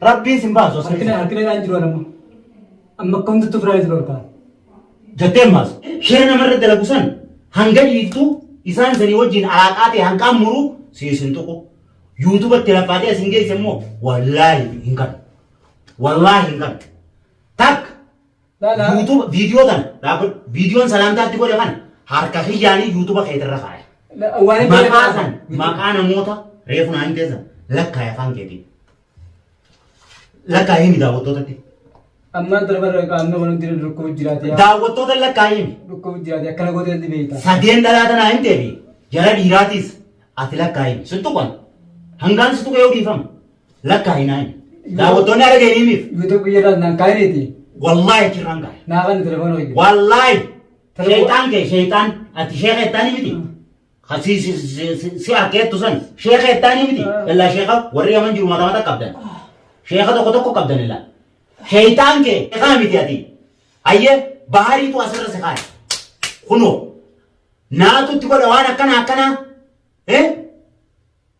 Rabbiin sin baasu as Harkina keessaa. harkina dhaan jiru anamma. Amma akka hundatti ofirraa isin dhorkaa. Jettee maas. Shira namarra dalagu san hanga dhiiftu isaan sanii wajjin alaaqaa ta'e hanqaan muruu siis hin tuqu. Yuutubatti laffaatee as hin geesse immoo wallaahi hin kan. Wallaahi hin kan. Takka YouTube viidiyoo tan dhaabbadhu. Viidiyoon salaamtaa itti godhe kana harka kiyyaanii YouTube keetirra kaaya. Maqaa san maqaa namoota reefu naa himtee san lakkaaya afaan keetiin. Lakkaaya himi daawwattootatti. Ammaan tana barra qaamni wal hundinuu dhukkubu jiraate yaa. Daawwattoota lakkaaya himi. Dhukkubu jiraate akkana gootee itti beekta. Sadeen dhalaa tanaa himtee fi jara dhiiraatiis ati lakkaaya himi. Sittu qan hangaan sittu qe'ee dhiifama. Lakkaa'i naayi. Daawwattoonni haala geenimiif. YouTube jedhaan naan kaayiniiti. Wallaahi achirraan kaa'e. Naa kan telefoona wajjin. Wallaahi. Sheexaan kee sheexaan ati sheeka ittaanii miti. Hasii si si- si- si harkeettu san sheeka ittaanii miti. Illaa sheeka warri yaman jiru mata mata qabdan. Sheeka tokko tokko qabdan illaa. Sheexaan kee sheekaa miti ati. Hayyee bahaariitu asirra si kaa'e. Kunoo. Naatutti godha waan akkana akkanaa. Eh?